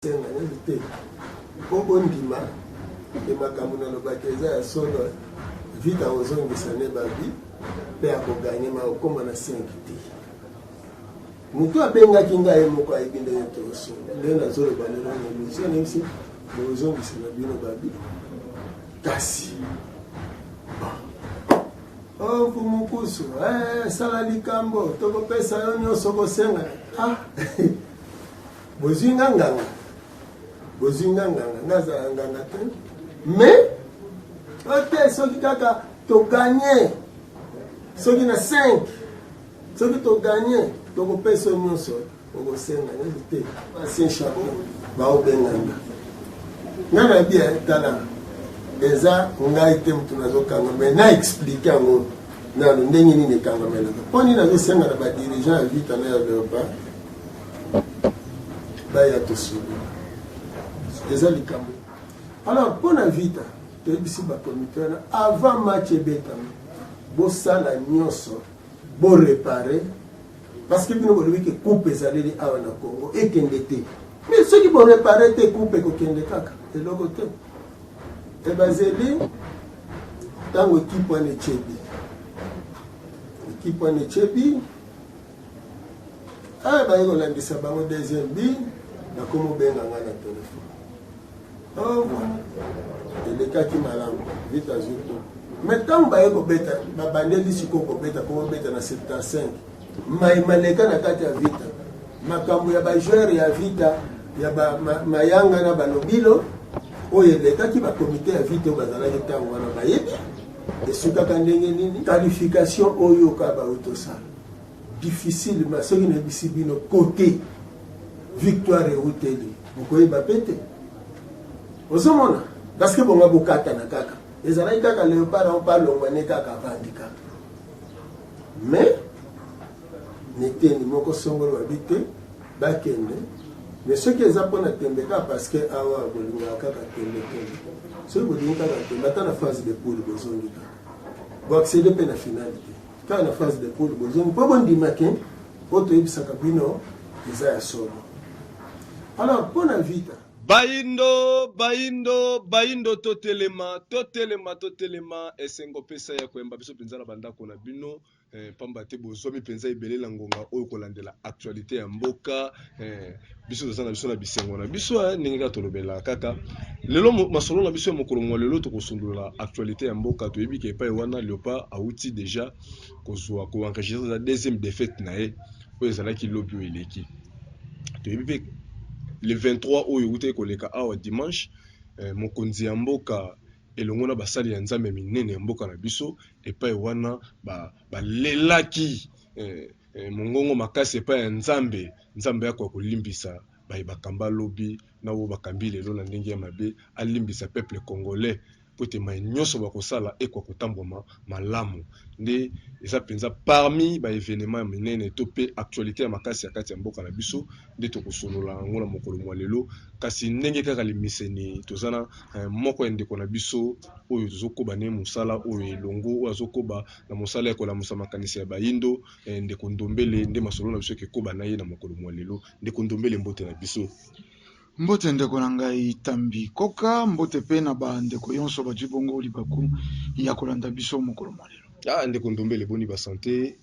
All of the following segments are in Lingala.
Senga nini te mpo bondima e makambo nalobaki eza ya solo vita ozongisa ne babi mpe akoganye ma okoma na sengi te motu abengaki ngai moko ayebi ndenge toosolo nde nazoloba lelo na emission nayebisi bozongisa na bino babi kasi oku oh, mokusu eh, sala likambo tokopesa yo nyonso kosenga ah. bozwi nga nganga bozwi nga nganga nga azala nganga te mais ote soki kaka toganye soki na 5 soki toganye tokopesa nyonso okosenga nyonso te basien chapo baobenganga nga na bia eh, tala eza ngai te motu nazokanga mai na explike yango nano ndenge nini ekangamelaka mpo nini nazosenga na badirigeant ya vita na ya leopa baya tosolo eza likambo alors mpo na vita toyebisi bapromoteur avant match ebetama bosala nyonso borepare parce que bino bolobi ke coupe ezaleli awa na congo ekende te mais soki borepare te coupe ekokende kaka eloko te ebazeli ntango ekipe wana echebi ekipe wana echebi ah baye kolandisa bango deuxième bi nakomobenga ngai na telefone oh, elekaki malamu vita azwi to me ntango baye kobeta babandeli sikoyo kobeta komobeta na 75 mai maleka na kati ya vita makambo ya bajeure ya vita ya ba, ma, mayanga na balobilo oyo elekaki bakomite ya vita oyo bazalaki ntango wana bayebi esukaka ndenge nini qualification oyo ka bautosala difficile ma soki nayebisi bino kote victoire euteli bokoyeba mpe te ozomona parce que bonga bokatana kaka ezalaki kaka leopard yango mpe alongwa ne kaka avandi kaka mais neteni moko songolo babi te bakende mais soki eza mpona tembe kaka parce que awa bolingaka kaka tembe tembe soki bolingi kaka tembe ata na phase de poule bozongi kaka boaccede mpe na finale te kaka na phase de poule bozongi mpo bondima ke oyo toyebisaka bino eza ya solo alors mpo na vita bayindo bayindo bayindo totelema totelema totelema esengo pesa ya koyamba biso mpenza na bandako na bino eh, mpamba eh, te bozwami mpenza ebele na ngonga oyo kolandela actualité ya mboka Eh, biso toza na biso na bisengo na biso eh, ndenge kaka tolobelaka kaka lelo masolo na biso ya mokolo mwa lelo tokosundola actualité ya mboka toyebi ke epai wana leopard awuti deja kozwa koenregistre eza deuxième défaite na ye oyo ezalaki lobi oyo eleki toyebi mpe le 23 oyo ewutaki koleka awa dimanche eh, mokonzi ya mboka elongo na basali ya nzambe minene ya mboka na biso epai wana balelaki ba eh, Eh, mongongo makasi epai ya nzambe nzambe yako ya kolimbisa baye bakamba lobi na oyo bakambi lelo na ndenge ya mabe alimbisa peuple congolais mpo ete mai nyonso bakosala ekwa kotambwama malamu nde eza mpenza parmi baevenema ya minene to mpe actualité ya makasi ya kati ya mboka na biso nde tokosolola yango na mokolo mwa lelo kasi ndenge kaka limeseni toza na eh, moko ya ndeko na biso oyo tozokoba ne mosala oyo elongo oyo azokoba na mosala ya kolamusa makanisi ya bayindo eh, ndeko ndombele nde masolo na biso ekoba na ye na mokolo mwa lelo ndeko ndombele mbote na biso mbote ndeko na ngai tambi koka mbote pe na bandeko yonso bazwi bongo libaku ya kolanda biso mokolo mwa lelo ah, ndeko ndombele boni basante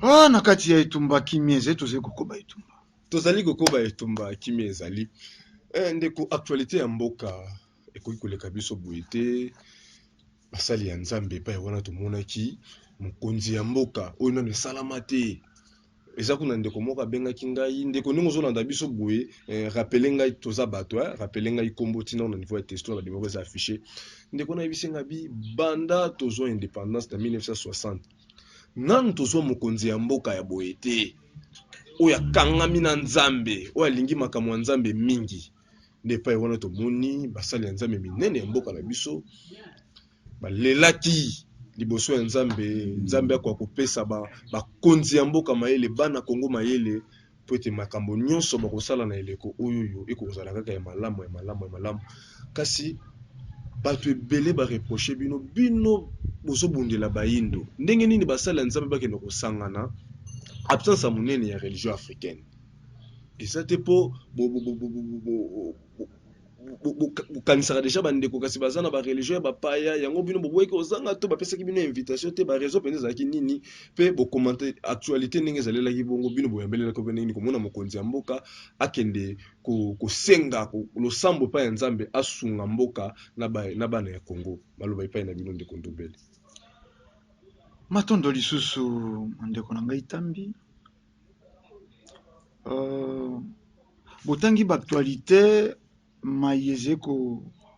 ah, na kati ya etumba kimia ezali tozali kokoba etumba tozali kokoba etumba kimia ezali eh, ndeko actualité ya mboka ekoki koleka biso boye te basali ya nzambe epai wana tomonaki mokonzi ya mboka oyo nano esalama te eza kuna ndeko moko abengaki ngai ndeko ndenge ozolanda biso boye eh, rapele ngai toza bato eh, rapele ngai nkombo ntina na niveau ya testo na bandimoko eza affiche ndeko nayebisi ngai bi banda tozwa indépendance na 1960 nanu tozwa mokonzi ya mboka ya boye te oyo akangami na nzambe oyo alingi makambo ya nzambe mingi nde epai wana tomoni basali ya Nzambe minene ya mboka na biso balelaki liboso ya Nzambe, Nzambe akoka kopesa bakonzi ya mboka mayele, bana Kongo mayele mpo ete makambo nyonso bakosala na eleko oyo oyo ekozala kaka ya malamu ya malamu ya malamu kasi bato ebele bareproche bino bino bozobundela bayindo ndenge nini basali ya Nzambe bakende kosangana absence ya monene ya religion africaine eza te mpo bokanisaka deja bandeko kasi baza na bareligion ya bapaya yango bino boboyaki ozanga to bapesaki bino invitation te bareseau mpenza ezalaki nini mpe bokomante actualité ndenge ezalelaki bongo bino boyambelelaki mpe ndenge komona mokonzi ya mboka akende kosenga losambo epai ya nzambe asunga mboka na bana ya congo maloba epai na bino ndeko ndobele matondo lisusu ndeko na ngai tambi Euh, botangi baaktualite mai ezali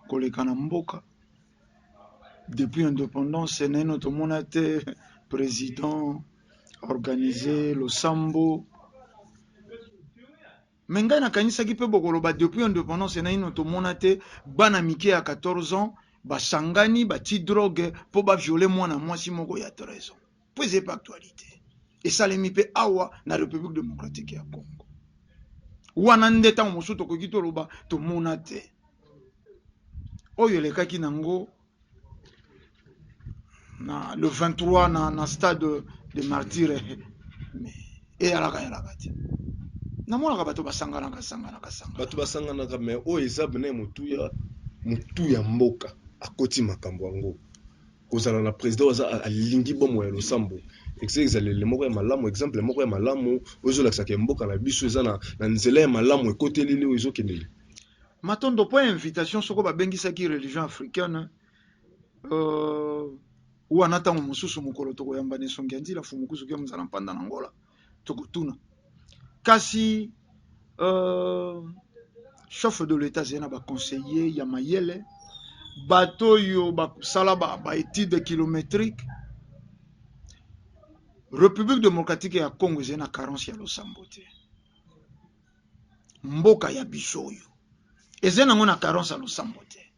koleka na mboka depuis independance naino tomona te président organise losambo me ngai nakanisaki mpe bokoloba depuis independance naino tomona te bana mike ya 14 ans basangani batie drogue mpo baviole mwana mwasi moko ya 13 ans mpo ezali mpe actualite esalemi mpe awa na Republique democratique ya Congo. Wana nde ntango mosusu tokoki toloba tomona te oyo elekaki nango na le 23 na, na stade de martyre eyalaka yalaka te namonaka bato basanganaka sanganaka sanganaka bato basanganaka me oyo eza bene motuya motu ya mboka akoti makambo yango kozala na president oyo aza alingi bomoi ya losambo eza ezaleli moko ya malamu exemple moko ya malamu oyo ezolakisa ke mboka na biso eza na, na nzela ya malamu ekoteli leo ezokendele matondo mpo ya invitation soko babengisaki religion africaine uh, wana ntango mosusu mokolo tokoyamba na esongi ya nzila fumukuzuki ya mozala mpanda na ngola tokotuna kasi euh, chef de l'etat azali na baconseiller ya mayele bato oyo bakosala baétude ba kilométrique république démocratique ya congo ezali na carence ya losambo te mboka ya biso oyo ezali nango na carence ya losambo te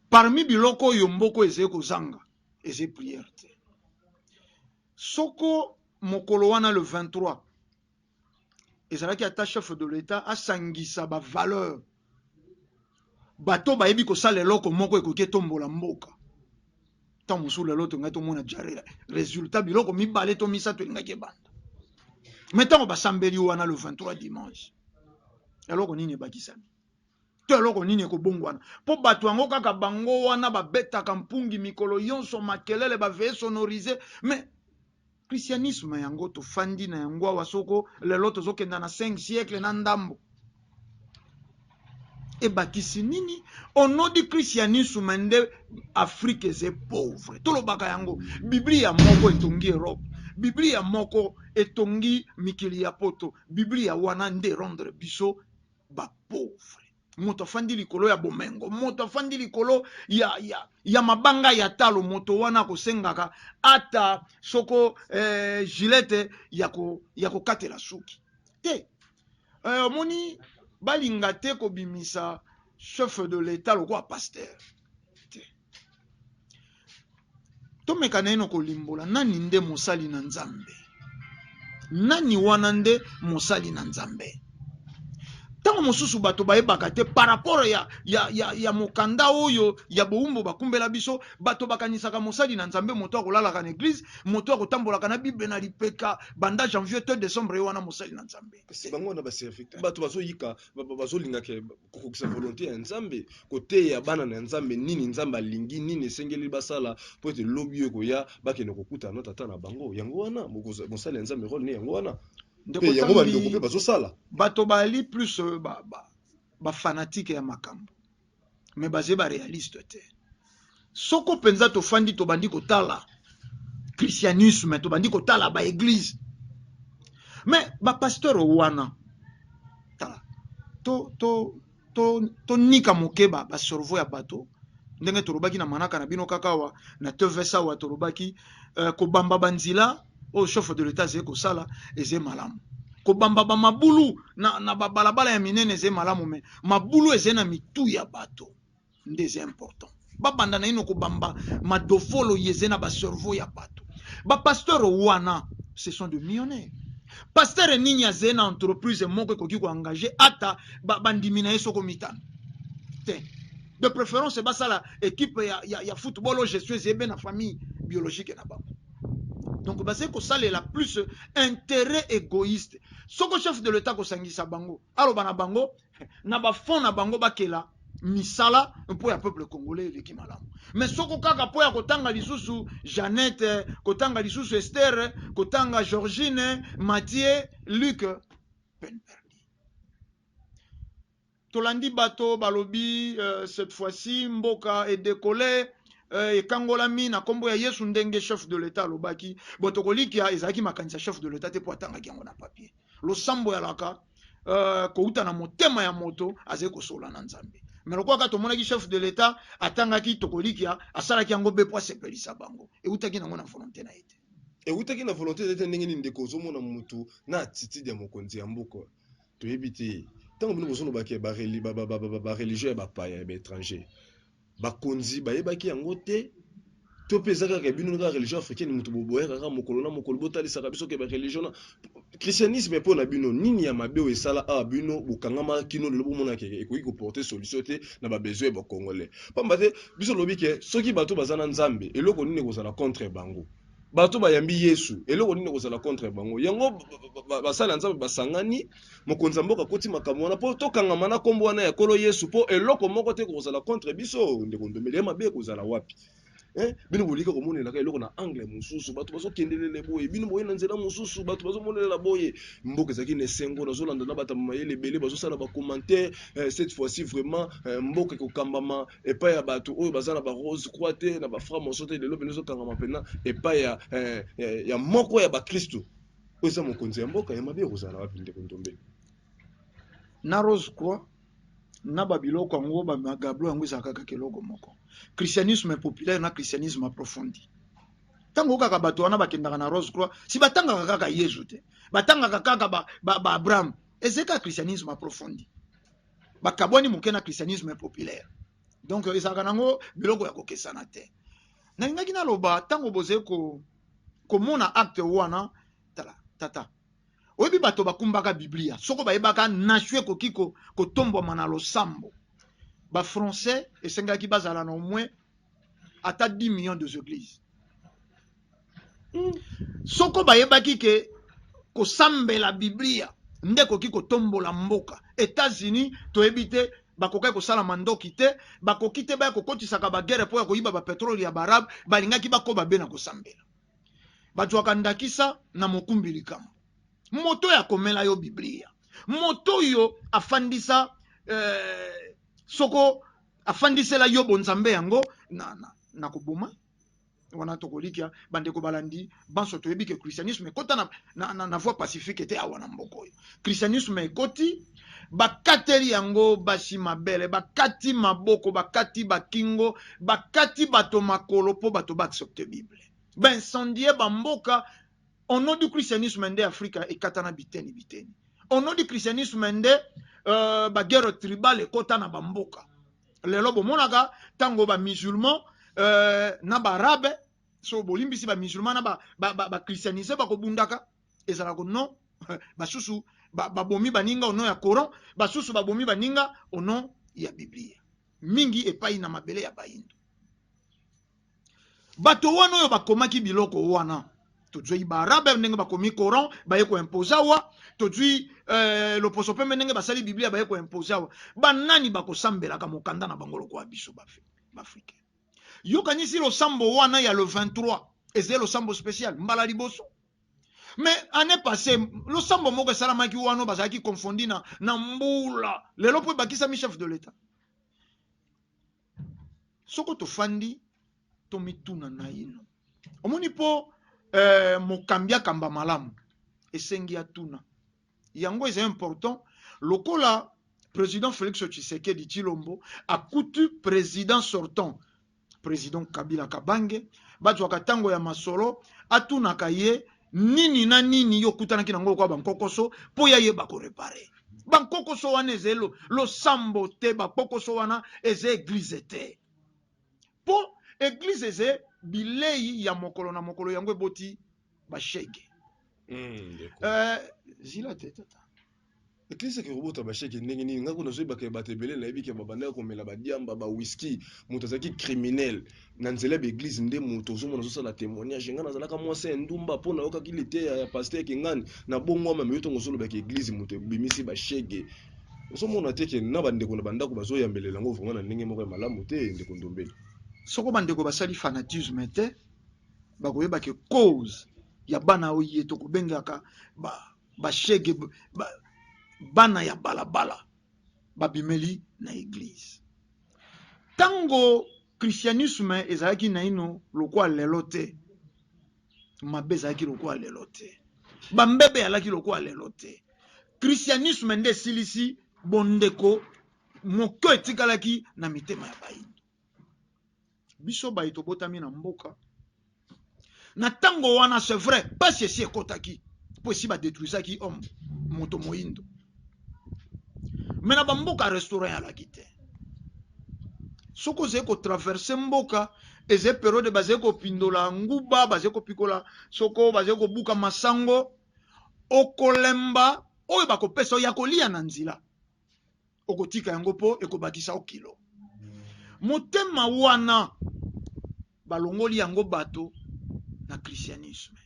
parmi biloko oyo mboko ezali kozanga ezali prière te soko mokolo wana le 23 ezalaki ata chef de l'etat asangisa ba valeur bato bayebi kosala eloko moko ekoki etombola mboka ntango mosusu lelo tongaki tomona ja résultat biloko mibale to misato elingaki ebanda me ntango basambeli wana le 23 dimanche eloko nini ebakisami to eloko nini ekobongwana mpo bato yango kaka bango wana babetaka mpungi mikolo yonso makelele baveye sonorise mais christianisme yango tofandi na yango awa soko lelo tozokenda na 5 siècle na ndambo ebakisi nini onodi christianisme nde afrique eze pauvre tolobaka yango biblia moko etongi europe biblia moko etongi mikili ya poto biblia wana nde erondre biso ba pauvre moto afandi likolo ya bomengo moto afandi likolo ya, ya, ya mabanga ya talo moto wana akosengaka ata soko eh, gilete ya kokatela suki te eh, omoni balinga te kobimisa chef de l'etat lokola pasteur te. Tomeka naino kolimbola nani nde mosali na Nzambe. Nani wana nde mosali na Nzambe? ntango mosusu bato bayebaka te par rapport ya, ya, ya, ya mokanda oyo ya bowumbu bakumbela biso bato bakanisaka mosali na nzambe moto akolalaka na eglize moto akotambolaka na bible na lipeka banda janvier to decembre ye wana mosali na nzambe bato bazoyika bazolinga ke kokokisa volonte ya nzambe koteya bana na nzambe nini nzambe alingi nini esengeli basala mpo ete lobi oyo ekoya bakende kokutana na tata na bango yango wana mosali ya nzambe role ne yango wana mpe yango bandeko mpe bazosala bato bali plus euh, bafanatike ba, ba ya makambo mais baze ba realiste te soko mpenza tofandi tobandi kotala christianisme tobandi kotala baeglize mais bapasteur wana tala tonika to, to, to, to moke basorvo ya bato ndenge tolobaki na manaka na bino kaka awa na tvs awa tolobaki uh, kobamba banzela oyo chef de l'etat ezali kosala ezali malamu kobamba bamabulu na, na babalabala ya minene ezali malamu me mabulu ezali na mitu ya bato nde ezali important babanda naino kobamba madofolo ye ezali na bacerveau ya bato bapasteur wana ce sont de millionnaire pasteur nini azali na entreprise moko ekoki koengage ata bandimi ba na ye soko mitano te de préférence basala ekipe ya, ya, ya football oyo gestion ezali be na famille biologique na bango donc bazali kosalela plus interet egoïste soko chef de l'etat kosangisa bango aloba na bango na bafond na bango bakela misala mpo ya peuple congolais eleki malamu me soko kaka mpo ya kotanga lisusu jeannette kotanga lisusu estere kotanga georgine matie luke penbergi Tolandi bato balobi cette fois ci mboka e decole ekangolami na kombo ya yesu ndenge chef de l'etat alobaki bon tokolikia ezalaki makanisi ya chef de l'etat te po atangaki yango na papier losambo ya laka euh, kouta na motema ya moto azali kosola na nzambe me lokola kaka tomonaki chef de l'etat atangaki tokolikia asalaki yango be po asepelisa bango eutaki nango na volonte na ye te eutaki na volonte te ndenge nini ndeko ozomona motu na attitude ya mokonzi ya mboka Toyebi te tango bino bozoloba ke ba religion ya bapaya ya ba etranger bakonzi bayebaki yango te to mpe eza kaka bino kaka religion africaine moto boboyaka kaka mokolo na mokolo botalisaka biso ke ba religion na christianisme mpo na bino nini ya mabe oyo esala awa bino bokangama kino lelo bomona ke ekoki koporte solution te na babesoin ya bacongolais mpamba te biso lobi ke soki bato baza na nzambe eloko nini ekozala contre bango bato bayambi yesu eloko nini ekozala contre bango yango basali ya nzambe basangani mokonzi ya mboka akoti makambo wana mpo tokangama na nkombo wana ya kolo yesu mpo eloko moko te ekozala contre biso ndeko ndombele ya mabe ekozala wapi Eh, bino bolika komonelaka eloko na angle mosusu bato bazokendelele boye bino boye na nzela mosusu bato bazomonelela boye mboka ezalaki na esengo nazolanda na batama mayele ebele bazosala bacommentaire eh, cette fois-ci vraiment eh, mboka ekokambama epai ya bato oyo baza na ba rose croix te na ba franc moso te lelo mpena ezokangama mpena epai ya, eh, eh, ya moko ya bakristu oyo eza mokonzi ya mboka ya mabe ekozala wapi ndeko ndombele na rose croix na babiloko yango bamagablo yango ezalaka kaka eloko moko christianisme populaire na christianisme approfondi ntango kaka bato wana bakendaka na rose croix si batangaka kaka yezu te batangaka kaka baabraham ba, ba ezeka christianisme approfondi bakabwani moke na christianisme populaire donc ezalaka nango biloko ya kokesana te nalingaki naloba ntango bozali ko, komona acte wana tala tata oyebi bato bakumbaka biblia soko bayebaka nasio ekoki kotombwama na losambo bafrançais esengelaki bazala na omwe ata 10 millions de églises soko bayebaki ke kosambela biblia nde ekoki kotombola mboka etats-unis toyebi te bakokaki kosala mandoki te bakoki te baya kokotisaka bagere mpo ya koyiba bapetrole ya baarabe balingaki bakoba be na kosambela bazwaka ndakisa na mokumbi likambo moto oyo akomela yo biblia moto oyo afandisa eh, soko afandisela yo bonzambe yango na, na, na koboma wana tokolikia bandeko balandi banso toyebi ke christianisme ekota na, na, na, na voie pacifique te awa na mboka oyo christianisme ekoti bakateli yango basi mabele bakati maboko bakati bakingo bakati bato makolo mpo bato baaccepte bible baincendie bamboka ono du christianisme nde afrika ekatana biteni biteni ono du christianisme nde uh, baguerre tribal ekota na bamboka lelo bomonaka ntango ba musulman euh, na baarabe so bolimbisi ba musulman na bachristianise ba, ba, ba bakobundaka ezalaka ko non basusu babomi ba baninga ono ya coran basusu babomi baninga ono ya biblia mingi epai na mabele ya bayindo bato wana oyo bakomaki biloko wana tozwi baarabe ndenge bakomi coran baye koimpose awa tozwi eh, loposo pembe ndenge basali biblia baye koimpose awa banani bakosambelaka mokanda na bango lokola biso baafrika yokanisi losambo wana ya le 23 ezali losambo special mbala liboso me année passé losambo moko esalamaki wana bazalaki confondi na, na mbula lelo mpo ebakisami chef de l'etat soko tofandi tomituna naino omoni mpo eh, mokambi akamba malamu esengi atuna yango eza important lokola président félix tshisekedi tshilombo akuti président sortant président kabila kabange bazwaka ntango ya masolo atunaka ye nini na nini yo okutanaki na yango lokola bankokoso mpo ya yeba korepare bankokoso wana eza losambo te bakpokoso wana eza eglize te mpo eglize eza bilei ya mokolo na mokolo yango eboti bashege mm, uh, zila te tata eklesi eke kobota basheke ndenge nini ngai kuna zoyebaka ya bato ebele nayebi ke babandaki komela badiamba bawiski moto azalaki criminel na nzela ya baeglize nde moto ozomona azosala témoignage ngai nazalaka mwasi ya ndumba mpo nayokaki liteya ya paster kingani na bongwama meyo ntongo ozolobaka eglize moto ebimisi bashege ozomona te ke na bandeko na bandako bazoyambelela yango vraimen na ndenge moko ya malamu te ndeko ndombele soko bandeko basali fanatisme te bakoyeba ke cause ya bana oye tokobengaka ba bashege ba, bana ya balabala babimeli na eglize ntango christianisme ezalaki naino lokola lelo te mabe ezalaki lokola lelo te bambebe alaki lokola lelo te christianisme nde esilisi bondeko moke etikalaki na mitema ya bayi biso baye tobotami na mboka na ntango wana c'est vrai mpasi esi ekotaki mpo esi badetruisaki homme moto moindo me na bamboka restaurant alaki te soki ozali kotraverse mboka eza periode bazali kopindola nguba bazali kopikola soko bazali kobuka masango okolemba oyo bakopesa oyo ya koliya na nzela okotika yango mpo ekobakisa yo kilo motema wana balongoli yango bato na christianisme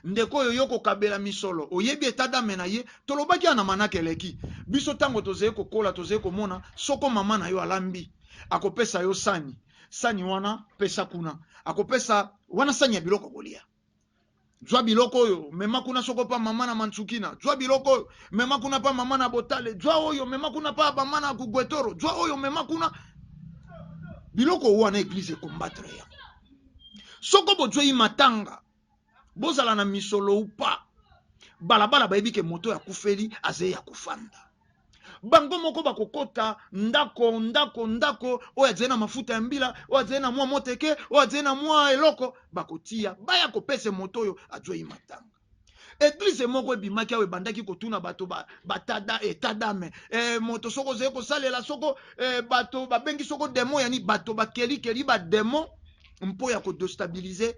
ndeko oyo yo kokabela misolo oyebi etadame na ye tolobaki ana manaka eleki biso ntango tozali kokola tozali komona soko mama na yo alambi akopesa yo sani sani wana pesa kuna akopesa wana sani ya biloko kolia zwa biloko oyo mema kuna soko pa mama na mansukina zwa biloko oyo mema kuna pa mama na botale zwa oyo mema kuna pa mama na kugwetoro zwa oyo mema kuna biloko wana eglise ekombattre yango soko bozwei matanga bozala na misolo upa balabala bayebi ke moto ya kufeli azei ya kofanda bango moko bakokota ndako ndako ndako oyo azali na mafuta ya mbila oyo azali na mwa moteke oyo azali na mwa eloko bakotia baya kopesa moto oyo azwei matanga eglize moko ebimaki awa ebandaki kotuna bato batada ba etadame e, eh, moto soko ozali kosalela soko e, bato babengi soko demo yani bato bakelikeli bademo mpo ya kodestabilize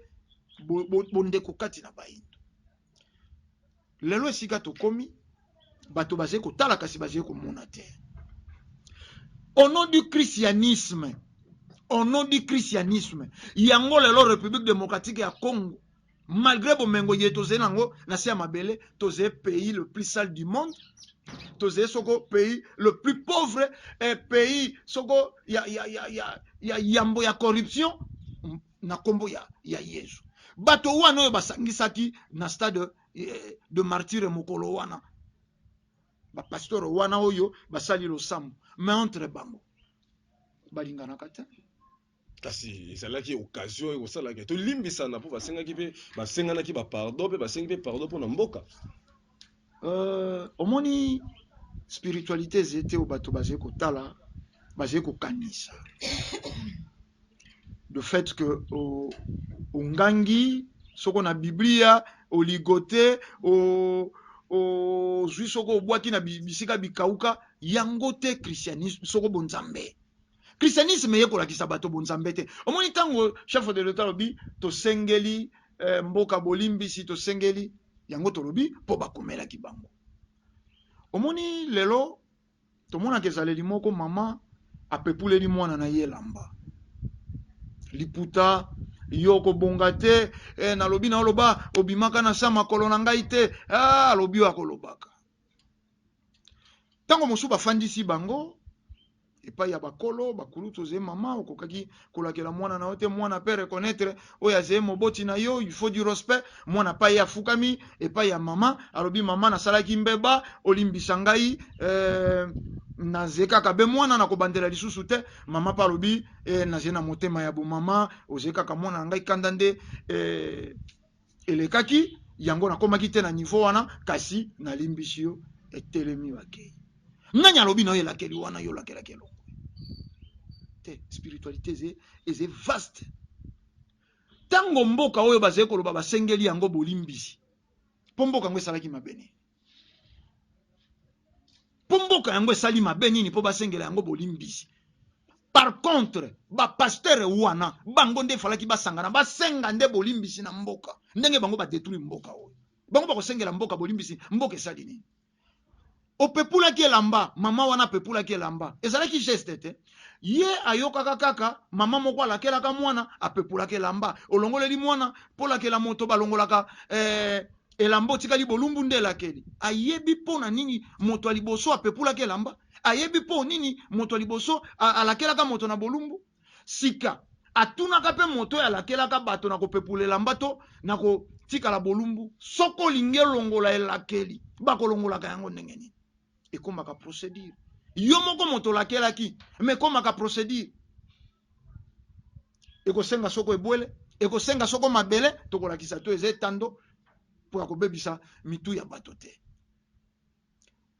bondeko bo, bo kati na bayindo lelo esika tokomi bato bazali kotala kasi bazali komona te au nom du christianisme au nom du christianisme yango lelo république démocratique ya congo malgré bomengo ye tozali nango na se ya mabele tozali pays le plus sale du monde tozali soko pays le plus pauvre et eh, pays soko ya, ya, ya, ya, ya yambo ya corruption na kombo ya, ya Yezu. Bato wana oyo basangisaki na stade eh, de martyre mokolo wana, bapasteur wana oyo basali losambo, mais entre bango balinganaka te kasi ezalaki occasion ekosalaka tolimbisana mpo basengaki mpe basenganaki bapardon mpe basengi mpe pardon mpo na mboka Euh, omoni spiritualité ezali te oyo bato bazali kotala bazali kokanisa le fait que ongangi soko na biblia oligote ozwi soko obwaki na bisika bikauka yango te christianisme soko bonzambe christianisme eye kolakisa bato bonzambe te omoni ntango chef de l'etat alobi tosengeli eh, mboka bolimbisi tosengeli yango tolobi mpo bakomelaki bango omoni lelo tomonaka ezaleli moko mama apepuleli mwana na ye elamba liputa yo okobonga te eh, nalobi na oloba obimaka na se ya makolo na ngai te ah, alobi oyo akolobaka Ntango mosusu bafandisi bango epai ya bakolo bakulutu ozeye mama okokaki kolakela mwana na yo te mwana pe reconnaître oyo azeye moboti na yo il faut du respect mwana pa ye afukami epai ya mama alobi mama nasalaki mbeba olimbisa ngai euh, naze kaka be mwana na kobandela lisusu te mama pa alobi eh, naze na motema ya bomama oze kaka mwana na ngai kanda nde eh, elekaki yango nakomaki te na niveau wana kasi nalimbisi yo etelemi bakei nani alobi na yo elakeli wana yo olakelaki elongo te spiritualité eze eze vaste ntango mboka oyo bazali koloba basengeli yango bolimbisi mpo mboka yango esalaki mabe nini mpo mboka yango esali mabe nini mpo basengela yango bolimbisi par contre bapastere wana bango nde efalaki basangana basenga nde bolimbisi na mboka ndenge bango badetruire mboka oyo bango bakosengela mboka bolimbisi mboka esali nini opepulaki elamba mama wana apepulaki elamba ezalaki geste te ye ayokaka kaka mama moko alakelaka mwana apepulaka elamba olongoleli mwana polakela moto balongolaka eh, elamba otikali bolumbu nde elakeli ayebi mpo na nini moto ya liboso apepulaki elamba ayebi mpo nini moto ya liboso alakelaka moto na bolumbu sika atunaka mpe moto oyo alakelaka bato na kopepula elamba to na kotikala bolumbu soko olingi elongola elakeli bakolongolaka yango ndenge nini ekomaka procedure yo moko moto olakelaki ma ekomaka procedure ekosenga soko ebwele ekosenga soko mabele tokolakisa to eza etando mpo ya kobebisa mitu ya bato te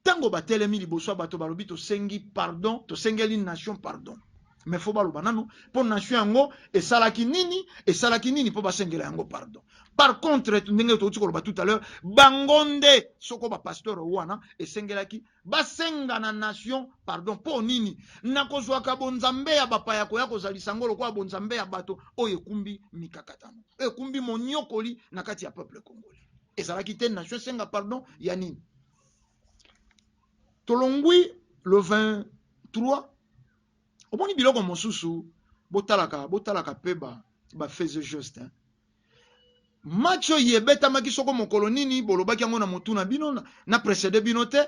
ntango batelemi liboso ya bato balobi tosengi pardon tosengeli nation pardon me fo baloba nano mpo nation yango esalaki nini esalaki nini mpo basengela yango pardon par contre ndenge touti koloba tout à l'heure bango nde soko bapasteur wana esengelaki Basenga na nation pardon po nini? Na kozwaka bonzambe ya bapaya koya kozalisa yango lokola bonzambe ya bato oyo ekumbi mikakatano, oyo ekumbi monyokoli na kati ya peuple congolais. Ezalaki te nation esenga pardon ya nini? Tolongwi le 23 omoni biloko mosusu botalaka botalaka pe ba ba faiseuxgestes hein. Match oyo ebetamaki soko mokolo nini bolobaki yango na motu na bino na precede bino te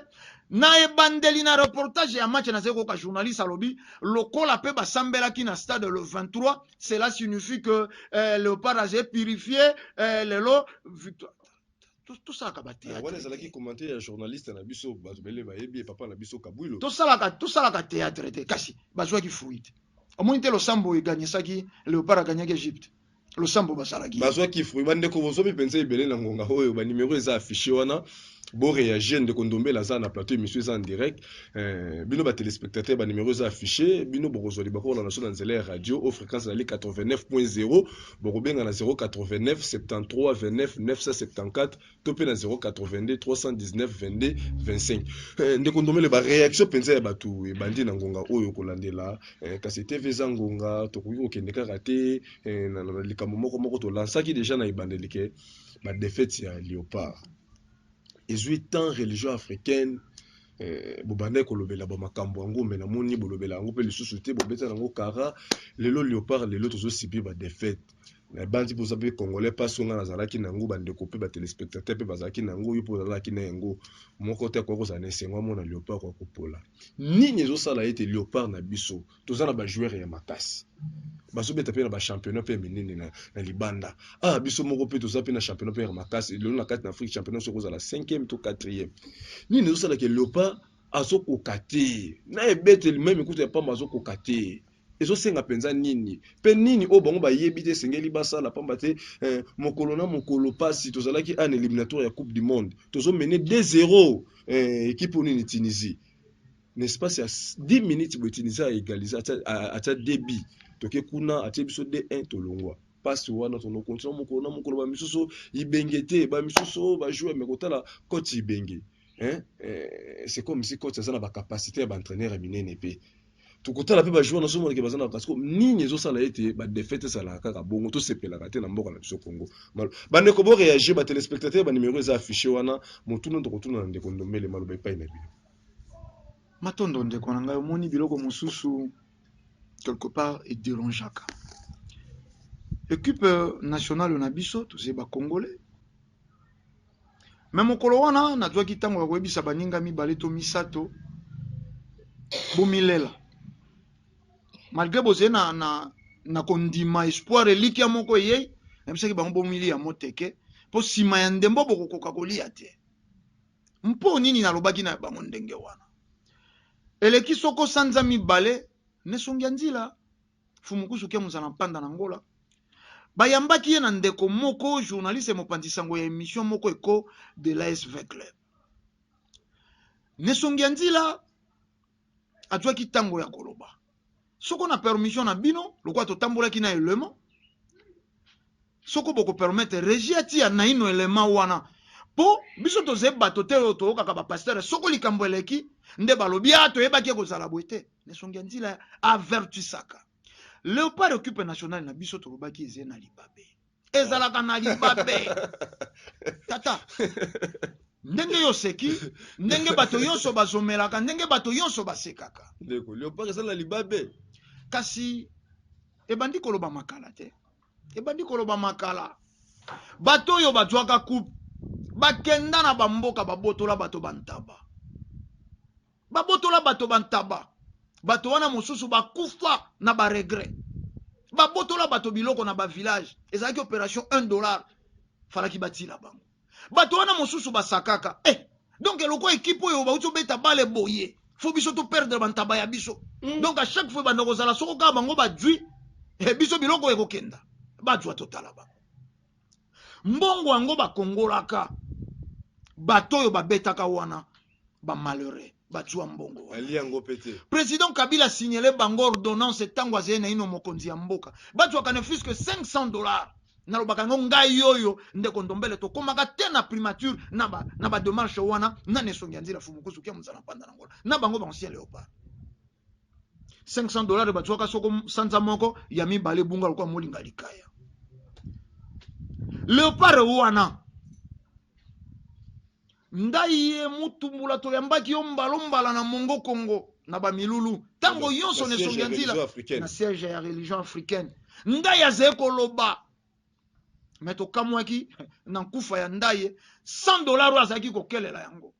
na ebandeli na reportage ya match nazali koyoka journaliste alobi lokola mpe basambelaki na stade le 23 cela signifie que eh, leopard azali purifie eh, lelo victoire tosalaka ba théâtre wana ezalaki commentaire ya journaliste na biso bato bele bayebi ye papa na biso kabwilo tosalaka tosalaka théâtre te kasi bazwaki fruit omoni te losambo eganisaki léopard agagnaki egypte losambo basalaki bazwaki fruit bandeko bozomi mpenza ebele na ngonga oyo banimero eza affiche wana boreagir ndeko ndombela aza na plateau émission eza en direct eh, bino batelespectateur banimero eza affiche bino bokozwa libakolo na biso na nzela ya radio o fréquence ezali 89.0 Bokobenga na 089 73 29 974 to mpe na 082 319 22 25. Eh, ndeko Ndomele, ba reaction mpenza ya bato ebandi na ngonga oyo kolandela eh, kasi TV eza ngonga, tokoki kokende kaka te eh, na, na, na likambo moko moko tolansaki deja na ebandeli ke ba defete ya Leopard ezwi temps religion africaine Eh, bobandaki kolobela ba makambo yango me namoni bolobela yango mpe lisusu te bobeta yango kara lelo leopard lelo tozosibi badefaite nabanzi mpoza mpe congolais mpasi onga nazalaki na yango bandeko mpe batelespectateur mpe bazalaki na yango yo mpe ozalaki na yango moko te akoki kozala na esengo amona leopard kokopola nini ezosala ete leopard na biso toza na ba joueur ya makasi bazobeta mpe na ba championnat mpe ya minene na, na libanda ah biso moko mpe toza mpe na championnat mpe ya makasi lelo na kati na afrique championnat soki ozala 5e to 4e nini ezosala ke leopard azokoka te na ebeteli meme kutu ya pamba azokoka te ezosenga mpenza nini mpe nini oyo bango bayebi te esengeli basala mpamba te eh, mokolo na mokolo mpasi tozalaki an eliminatoire ya coupe du monde tozomene 2 0 eh, ekipe oyo nini tunisie N'espace ya 10 minutes boye Tunisia a egalise atia deux buts toke kuna atie biso 2-1 tolongwa pasi wana tono continue mokolo na mokolo ba misusu ibenge te ba misusu ba jouer mais kotala coach ibenge hein eh, c'est comme si coach aza na ba capacité ya ba entraîneur ya minene mpe tokotala mpe bajoueur na somoneke baza na kasi nini ezosala ete badefete ezalaka kaka bongo tosepelaka te na mboka na biso congo bandeko boreagir batelespectateur banimero eza affiche wana motuna tokotuna na ndeko ndombele maloba epai na bino Matondo ndeko na ngai omoni biloko mosusu quelque part et derangeaka equipe nationale na biso toze ba congolais me mokolo wana nazwaki ntango ya koyebisa baninga mibale to misato bomilela malgré bozali na, na, na kondima espoir elikia moko eyei nayebisaki bango bomiliya moteke mpo nsima ya ndembo bokokoka kolia te Mpo nini nalobaki na bango ndenge wana? Eleki soko sanza mibale, n'esongi ya nzila, Mfumu Kusu Kya Muzana Mpanda na Angola, bayambaki ye na ndeko moko journaliste et mopanzi sango ya emission moko Echo de l'ASV Club. N'esongi ya nzila, azwaki ntango ya koloba soko na permission na bino lokola totambolaki na elema soko bokopermettre regi atia naino elema wana mpo biso toze bato te oyo toyokaka bapastere soko likambo eleki nde balobi a ah, toyebaki ekozala boye te nesongi ya nzila avertisaka leopard equipe nationale na biso tolobaki eze na libabe ezalaka na libabe tata ndenge yo oseki ndenge bato nyonso bazomelaka ndenge bato nyonso basekaka ndeko leopard eza na libabe kasi ebandi koloba makala te ebandi koloba makala bato oyo bazwaka coupe bakenda na bamboka babotola bato bantaba babotola bato bantaba bato wana mosusu bakufa na baregret babotola bato biloko na bavillage ezalaki operation 1 dollar falaki batila bango bato wana mosusu basakaka eh, donc eloko ekipe oyo bauti obeta bale boye fo biso toperdre bantaba ya biso mm. donc a chaque fois ebanda kozala soko kaka bango bajwi eh, biso biloko ekokenda bajwa totala bango mbongo yango bakongolaka bato oyo babetaka wana bamalheureux bazwa mbongo ali yango mpe te président kabila signale bango ordonnance ntango azali naino mokonzi ya mboka bazwaka ne fusque 500 dollars nalobaka yango ngai oyo ndeko ndombele tokomaka te na primature na bademarche wana na nesongi ya nzila fumukusu kia mozala mpanda na ngola na bango baancien léopard 500 dollars bazuaka soko sanza moko ya mibale ebunga lokola molinga likaya leopard wana ngai ye mutumbula toyambaki yo mbalombala na mongo kongo na bamilulu ntango nyonso na esongi ya nzila na siège ya religion africaine ngai azali koloba me tokamwaki na nkufa ya ndaye 100 dollar oyo azalaki kokelela yango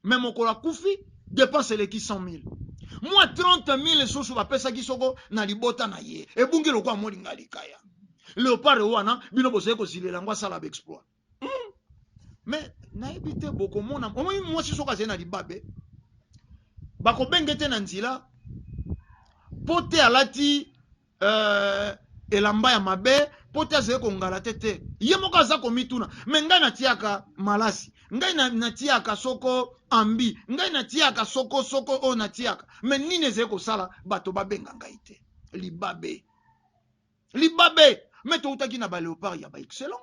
mais mokolo akufi depense eleki 100 mille mwa 30 mille susu bapesaki soko na libota na ye ebungi lokola molinga likaya leopard wana bino bozali kozilela yango asala baexploit hmm. mais nayebi te bokomona omoni mwasi soko azali na libabe bakobenge te na nzela mpo te alati euh, elamba ya mabe mpo te azali kongala te te ye moko aza komituna me ngai natiaka malasi ngai natiaka soko ambi ngai natiaka soko soko oyo natiaka me nini ezali kosala bato babenga ngai te libabe libabe me toutaki na baleopard ya baexcellent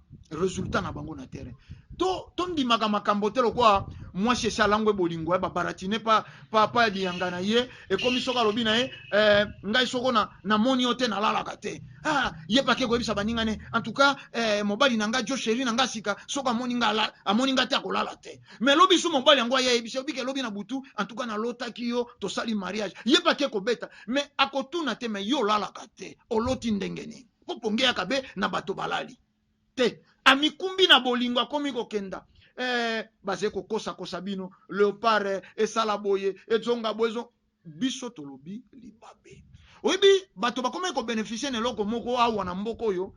resultat na bango na terrain to tondimaka makambo te lokola mwasi esi alangwe bolingo ya eh, babaratine pa, pa, pa liyanga na ye ekomi soki alobi na ye eh, ngai soko na, namoni yo te nalalaka te ah, ye pake koyebisa baninga ne en tout cas eh, mobali na ngai jo sheri na ngai sika soki amoni ngai amoni ngai te akolala te mais lobi so mobali yango aye ayebisi obike elobi na butu en tout cas nalotaki yo tosali mariage ye pake kobeta mais akotuna te mais yo olalaka te oloti ndenge nini moponge ya kabe na bato balali te amikumbi na bolingo akomi kokenda eh, baze kokosakosa bino leopard eh, esala boye ezonga boye ezo biso tolobi libabe oyebi bato bakomaki kobenefisie na eloko moko awa na mboka oyo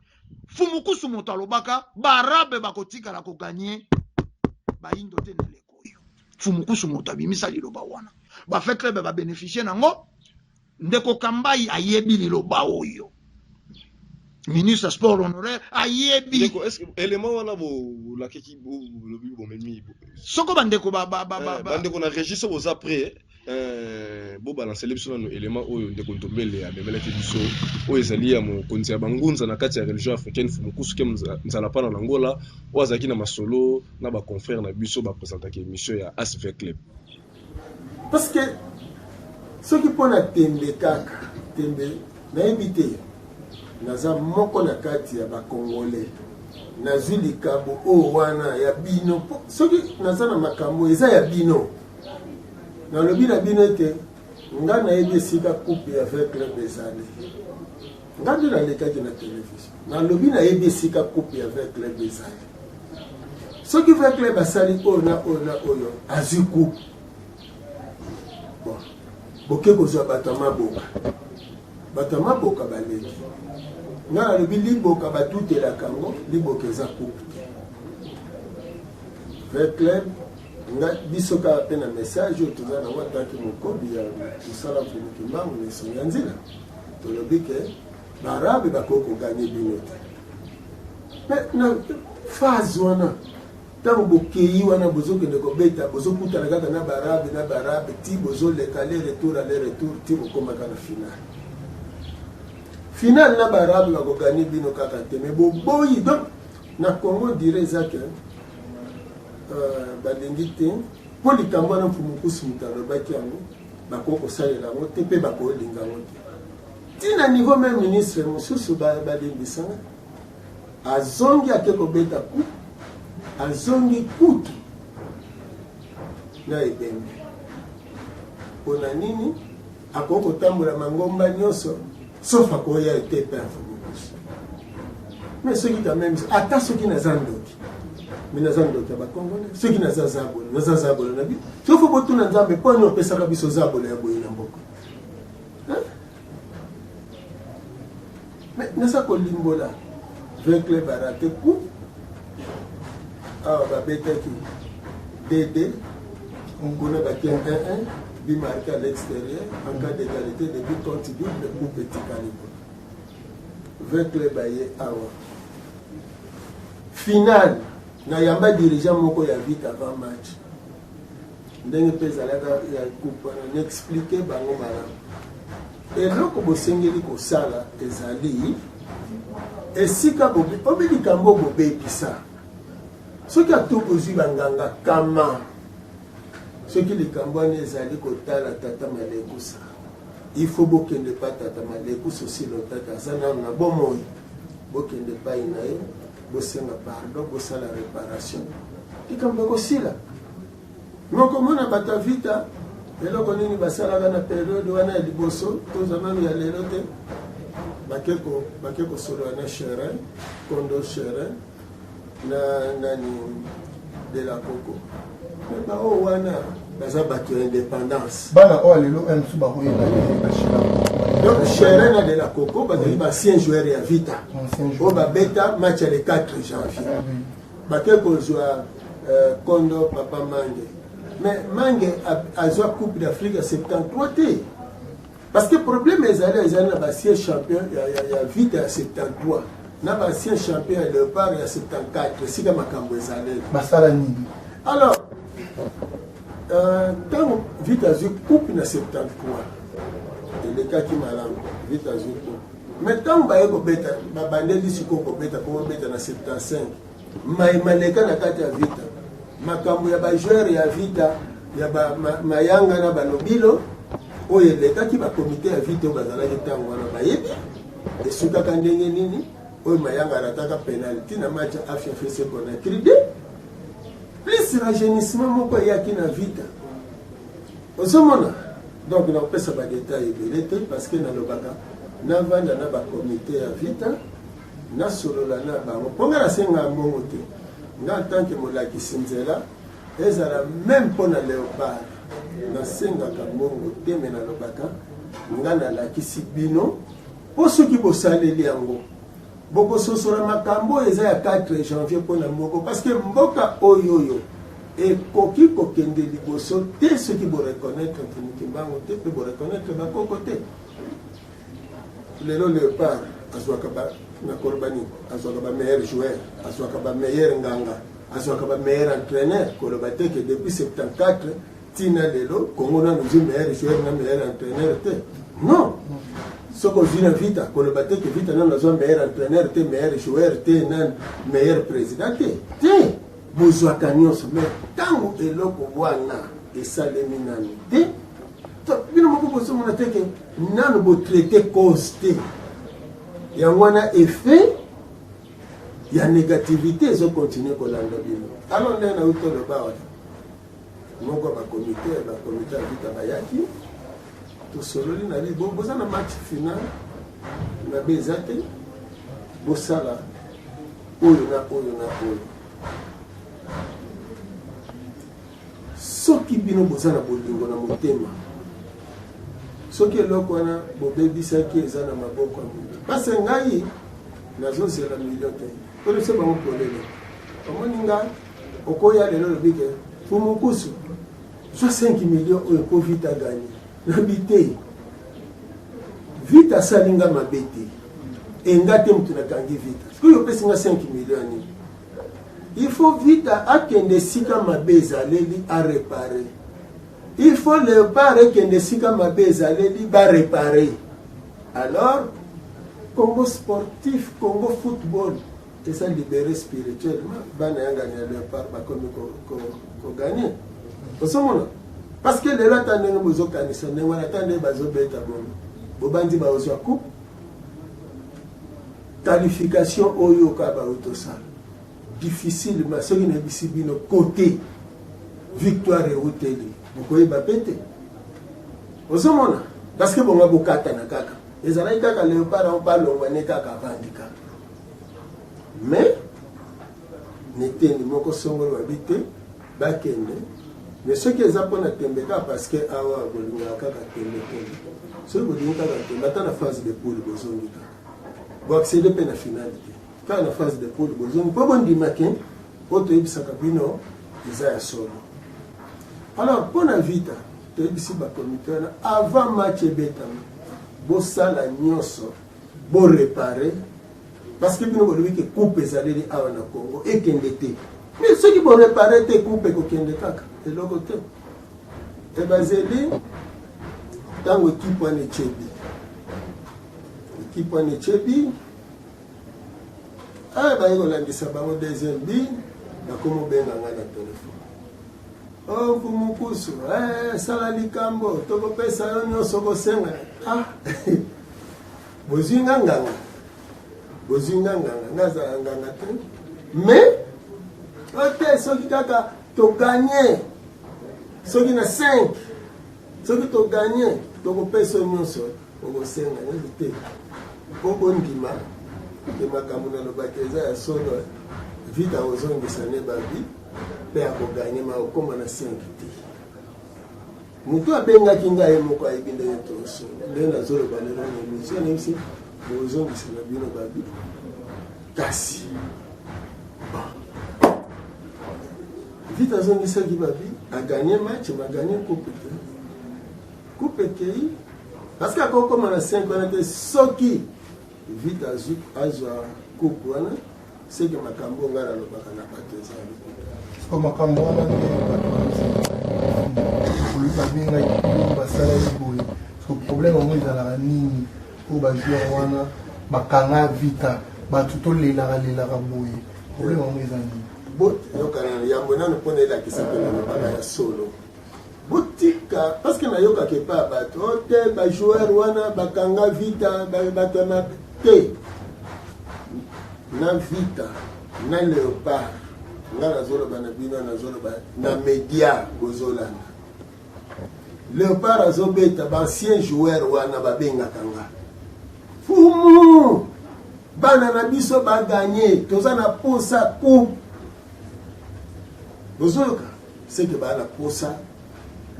fumukusu moto alobaka baarabe bakotikala koganye bayindo te na eleko oyo fumukusu moto abimisa liloba wana bafeklebe babenefisie nango Ndeko Kambayi ayebi liloba oyo. Ministre ya sport honoraire ayebi. Ndeko, est-ce que élément wana bolakeki bolobi bomemi? Soko bandeko ba ba ba eh, ba bandeko na registre boza prêt eh, bobalansele biso nano élément oyo ndeko ntombele amemelaki biso oyo ezali ya mokonzi ya bangunza na kati ya religion africaine fumukusuke nzalapana na ngola oyo azalaki na masolo na baconfrère na biso bapresentaki émission ya asv club Parce que soki mpo na tembe kaka tembe nayebi te naza moko na kati ya bakongole nazwi likambo oyo oh, wana ya bino soki naza na makambo eza ya bino nalobi na bino ete ngai nayebi esika coupe ya vin club ezali nga nde nalekaki na television nalobi nayebi esika coupe ya vin club ezali soki vin club asali oyo na oyo na oyo azwi coupe bon boke kozwa bato ya maboka bato ya maboka baleki nga nalobi liboka batutelaka yango liboka eza coupe te vin club nga biso kaka mpe na message oyo toza nango ataki mokobi ya mosala mponi kimbangu na esongo ya nzela tolobi ke baarabe bakoki koganye bino te me na phase wana ntango bokei wana bozokende kobeta bozokutana kaka na baarabe na baarabe ti bozoleka le retour a le retour ti bokomaka na finale finale na baarabe bakoganye bino kaka te me boboyi donc Na Congo on dirait eza que euh, balingi te mpo likambo wana mpo mokusu moto alobaki yango bakoki kosalela yango te mpe bakolinga yango te ti na niveau meme ministre mosusu balimbisana azongi ake kobeta ku azongi kutu na ebembe mpo na nini Akoki kotambola mangomba nyonso sauf akoya ete pe afubukusu mais soki quand même ata soki naza ndoki mais naza ndoki ya bakongole soki naza zabolo naza zabolo na bi soki fo botuna nzambe mpo ani opesaka biso zabolo ya boye na mboka Mais nasa kolimbola Joe Club a raté coup awa babetaki DD kuna batie 1 1 bimarke à l'extérieur en cas d'égalité de but contre but le coupe etikali kuna ve club aye awa finale nayamba dirigeant moko ya vite avant match ndenge mpe ezalaka ya groupe wana na explike bango malamu eloko bosengeli kosala ezali esika obi likambo bobebisa soki atu kozwi banganga kama soki likambo wana ezali kotala tata malekusa il faut bokende pa tata malekusa osilotaka aza nano na bomoi bokende pai na ye bosenga pardon bosala reparation likambo ekosila mokomona bato ya vita eloko nini basalaka na periode wana ya liboso toza nanu ya lelo te bake kosolola na cherin kondo cherin na nani de la coco Ba oyo wana baza bato ya independance. Bana oyo lelo un mosusu bakoyeba bashila. Donc Sherena de la Coco bazali ba ancien joueur ya Vita. Oyo babeta match ya le 4 janvier. Ah Bake kozwa euh, kondo papa Mange. Mais Mange azwa Coupe d'Afrique ya 73 te. Parce que problème ezali ezali na ba siège champion ya, ya, ya vita ya 73 na ba siège champion ya leopard ya 74 esika makambo ezali basala nini alors ntango euh, vita azwi coupe na 73 elekaki malamu vita azwi coupe mais ntango baye kobeta babandeli sikoyo kobeta po babeta na 75 Mai maleka na kati ya Vita. Makambo ya ba joueurs ya Vita ya ba ma, Mayanga na Balobilo oyo elekaki ba komite ya Vita oyo bazalaki ntango wana bayebi esukaka ndenge nini oyo Mayanga arataka penalty na match ya Afia FC Conakry 2 plus rajeunissement moko eyaki na Vita ozomona donc nakopesa badetail ebele te parce que nalobaka navanda na bakomite ya vita nasolola na bango mpo ngai nasengaka mbongo te ngai ntanke molakisi nzela ezala meme mpo na leopard nasengaka mbongo te me nalobaka ngai nalakisi bino mpo soki bosaleli yango bokososola makambo oyo eza ya 4 janvier mpo na moko parce que mboka oyo oyo ekoki kokende liboso te soki boreconnaitre mpunukimbango te mpe boreconnaitre bakoko te lelo leopard azwaka ba nakoloba nini azwaka ba meilleur joueur azwaka ba meilleur nganga azwaka ba meilleur entraîneur koloba te ke depuis 74 tina lelo kongo nanu ozwi meilleur joueur na meilleur entraîneur te non soki ozwi na vita koloba te ke vita nanu azwa meilleur entraîneur te meilleur joueur te nani meilleur président te te bozwaka nyonso mais ntango eloko wana esalemi nanu te bino moko bozomona te ke nano botraite cause te yango wana effet ya négativité ezokontinue kolanda bino alo nde nauti oloba wana moko bakomite bakomite ya vita bayaki tosololi na bibo boza na match final mabe eza te bosala oyo na oyo na oyo Soki bino boza na bolingo na motema, soki eloko wana bobebisaki eza na maboko ya moto. Parce que ngai nazozela milio te, tolese bango polele. Omoni nga okoya lelo olobi ke fumukusu zwa 5 milio oyo po vita gani nabi te vita asali nga mabe te enga te moto nakangi vita sikoyo opesi nga 5 milio ya nini Il faut vita akende esika mabe ezaleli a repare. Il faut leopard ekende esika mabe ezaleli ba repare. Alors Congo sportif, Congo football eza libere spirituellement bana yangani ya leopard bakomi koganye osomona parce que lelo ata ndenge bozokanisa ndenge wana ata ndenge bazobeta bono bobanzi baozwa coupe Qualification oyo ka ba autosala difficile ma soki na bisi bino cote victoire euteli bokoyeba pe te ozomona parce que bonga bokatana kaka ezalaki kaka leopard yango balongwa ne kaka avandi kaka mais netendi moko songolo babi te bakende mais soki eza mpona tembe kaka parce que awa bolingaka kaka tembe tembe soki bolingi kaka tembe ata na phase de poule bozongi kaka Bo accéder pe na finale te. Kaka na phase de poule bozongi po bondima ke oyo toyebisaka bino eza ya solo. Alors mpo na Vita toyebisi bakomite wana avant match ebetama bosala nyonso borepare parce que bino bolobi ke coupe ezaleli awa na Congo ekende te mais soki borepare te coupe ekokende kaka eloko te. E bazeli ntango ekipe wana echebi ekipe wana echebi oyo ah, baye kolandisa bango deuxième bi nakoma obenga ngai na telefone oku oh, mokusu eh, sala likambo tokopesa yo nyonso kosenga ah, bozwi nga nganga bozwi nga nganga nazala nganga te mais ote soki kaka To gagner soki na 5 soki to gagner tokopesa nyonso okosenga nini te mpo bondima te makambo nalobaki eza ya solo vita kozongisa ne babi mpe akoganye ma okoma na 5 te Moto abengaki ngai ye moko ayebi ndenge toso ndenge nazoloba lelo na emission nayebisi bozongisa na bino babi kasi vite azongisaki babi aganye match baganye coupe te coupe ekei parceke akokoma na 5 wana te soki vite azwa coupe wana seke makambo oyo ngai nalobaka na bato eza ya lokuta siko makambo wana nde bato babengaki basalaki boye siko problème yango ezalaka nini oyo bajoueur wana bakanga vita bato tolelaka lelaka boye problème yango eza nini boyokana yambo nano mpona elakisa mpe nalobaka ya solo botika parce que nayokaka epa ya bato o oh, te bajoueur wana bakanga vita bato ya mabe te na vita na leopard nga nazoloba na bino nazoloba na media bozolanda leopard azobeta baancien joueur wana babengaka nga fumu bana na biso baganye toza na posa coupe bozoyoka Seke ba na posa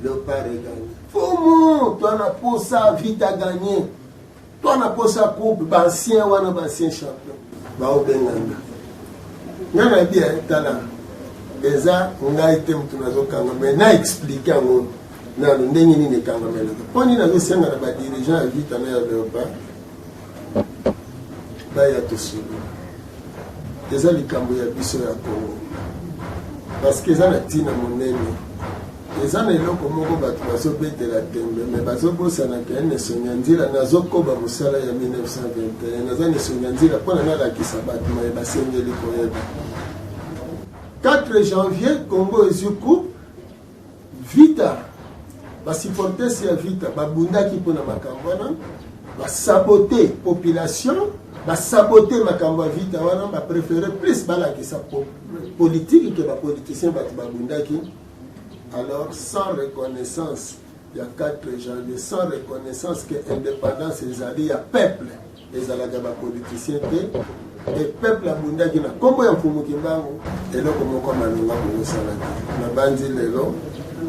Leopard e gagne. Fomo, toi na posa Vita gagne. Toi na posa coupe ba ancien wana ba ancien champion. Ba obenganga. Nga na bi eh, tala. Eza ngai te mutu nazokanga mais na explique yango nano ndenge nini ekangamelaka mpo nini nazosenga na badirigeant ya vita na ya leopard baya tosolola eza likambo ya biso ya kongo parceke eza na ntina monene eza na eloko moko bato bazobetela tembe me bazobosana ke nesonga nzila nazokoba mosala ya 1921 naza nesonga nzila mpona nalakisa bato maye basengeli koyeba 4 janvier congo ezwi coupe Vita basupporters ya Vita babundaki mpo na makambo wana basabote population basabote makambo ya Vita wana baprefere plus balakisa politiki ke bapoliticien bato babundaki alors sans reconnaissance ya 4 janvier sans reconnaissance ke indépendance ezali ya peuple ezalaka ba politicien te e peuple abundaki na nkombo ya mfumu kimbangu eloko moko malonga bokosalaki nabanzi lelo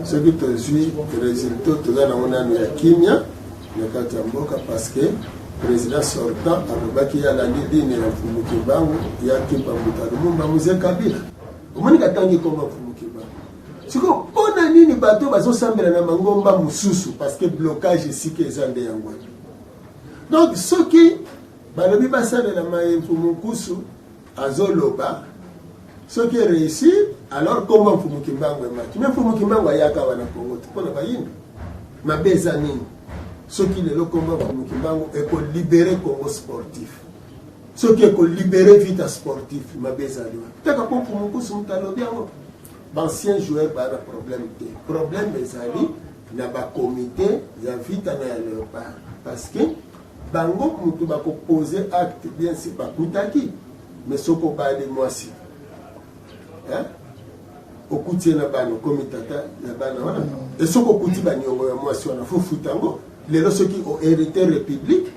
soki tozwi resultat toza nango nano ya kimia na kati ya mboka parce que président sortant alobaki ye alandi dine ya mfumu kimbangu ya kimpa mbuta lumumba muse kabila omoni katangi koma mfumu kimbangu sikoyo mpo na nini bato bazosambela na mangomba mosusu parce que blocage esika eza nde yango donc soki balobi basalela mayemfu mokusu azoloba soki ereusir alors nkombo ya mfumu kimbangu emaki me mfumu kimbangu ayaka awa na kongo te mpo na bayini mabe eza nini soki lelo nkombo ya mfumu kimbangu ekolibere kongo sportif soki ekolibere vita sportif mabe ezali wana taka mpo mfumu kusu moto alobi yango Bancien joueur baa na problème te. Problème ezali na bacomité ya vita na ya leopard parce que bango motu bakopose acte bien si bakutaki me soki obali mwasi okuti ye na bana okomi tata ya bana wana mm. esoki okuti baniongo ya mwasi wana fofuta yango lelo soki oherite république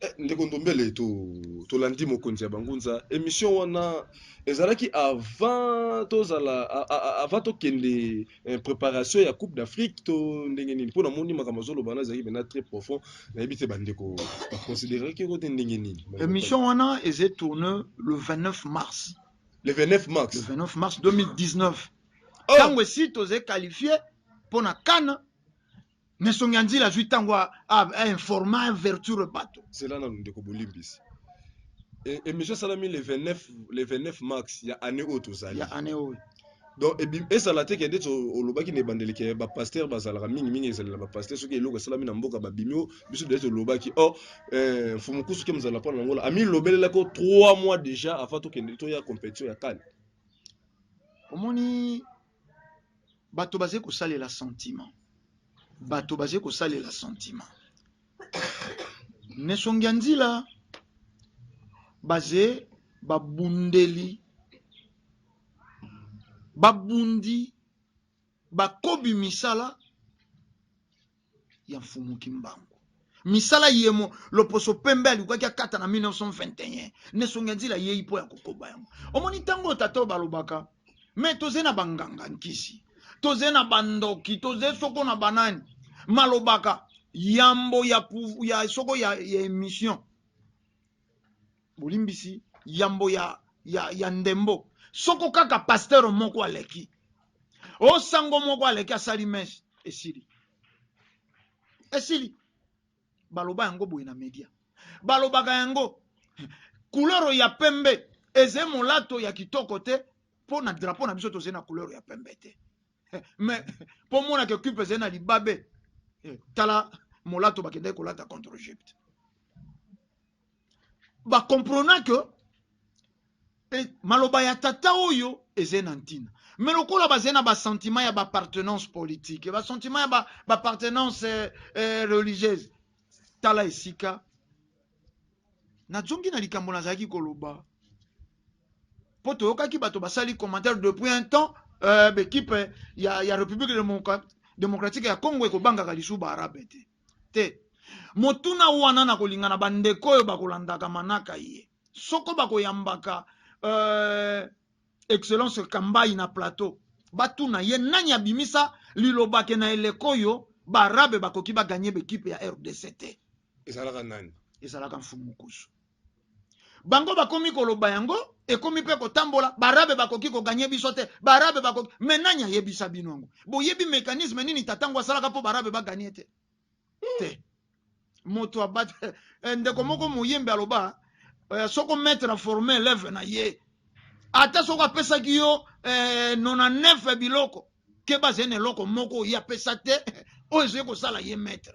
Eh, ndeko ndombele to tolandi mokonzi ya bangunza émission wana ezalaki avant tozala a- a- a- avant tokende eh, préparation ya coupe d'afrique to ndenge nini mpo namoni makambo azoloba wana ezalaki mpena très profond nayebi te bandeko baconsideraki yango te ndenge nini Bandeko Émission wana eze tourne le 29 mars. Fally. le 29 Le mars 29 mars 2019. Oh! Tango esi toze qualifié pona CAN Mais songi anzila azui tango a, a, a informa a verture bato. Zela nanu ndeko bolimbisi. E, emission salami le 29 le 29 mars ya année oyo tozali. Ya année oyo. donc ezala te kende ti olobaki na ebandeli ke bapaster bazalaka mingi mingi ezali na bapaster soki eloko esalami na mboka babimi o biso dele tolobaki or eh, mfumu kusu ke mozala mpona nangola amilobelelaki o trois mois déjà avant tokende toya compétition ya kani omoni bato bazali kosalela sentiment bato bazali kosalela sentiment nesongi ya nzila baze babundeli babundi bakobi misala ya Mfumu Kimbangu. Misala yemo loposo pembe alukaki akata na 1921 nesongi ya nzila yei mpo ya kokoba yango. Omoni ntango oyo tata oyo balobaka me toze na banganga nkisi toze na bandoki toze soko na banani malobaka yambo ya, ya soko ya, ya emission bolimbisi yambo ya, ya, ya ndembo soko kaka pasteur moko aleki o oh, sango moko aleki asali mese esili esili baloba yango boye na media balobaka yango kuloro ya pembe eze molato ya kitoko te mpo na drapo na biso tozali na kuloro ya pembe te mais mpo monaka ekipe ezali na libabe eh, tala molato bakendaki kolata contre egypte ba comprena que e, maloba ya tata oyo ezali na ntina me lokola bazali na basentiment ya baappartenance politique basentiment ya baappartenance ba eh, eh, religieuse tala esika nazongi na likambo nazalaki koloba mpo toyokaki bato basali commentaire depuis un temps euh, bekipe ya, ya république démocratique ya congo ekobangaka lisusu baarabe te te motuna wana na kolinga na bandeko oyo bakolandaka manaka ye soko bakoyambaka euh, excellence kambayi na plateau batuna ye nani abimisa lilobake na eleko oyo baarabe bakoki baganye bekipe ya rdc te ezalaka nani ezalaka mfumukusu bango bakomi koloba yango ekomi mpe kotambola barabe bakoki koganye biso te barabe bakoki me nani ayebisa bino yango boyebi mekanisme nini tatango asalaka mpo barabe baganye te te moto abat eh, ndeko moko moyembe aloba eh, soko maître aforme eleve na ye ata soko apesaki yo eh, nona nefe biloko keba zene eloko moko oyo apesa te oyo ezali kosala ye maître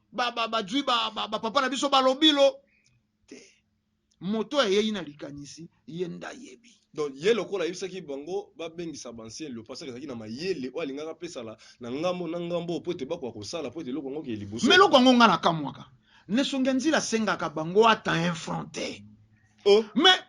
ba ba ba zui ba ba, ba papa na biso balobilo te moto ayei na likanisi ye nda yebi donc ye lokola ayebisaki bango babengisa bancien lio pasaki ezalaki na mayele oyo alingaki apesala na ngambo na ngambo mpo ete bakoka kosala mpo ete eloko yango kee liboso me eloko yango ngai nakamwaka nesongi ya nzila asengaka bango ata infronte oh. mais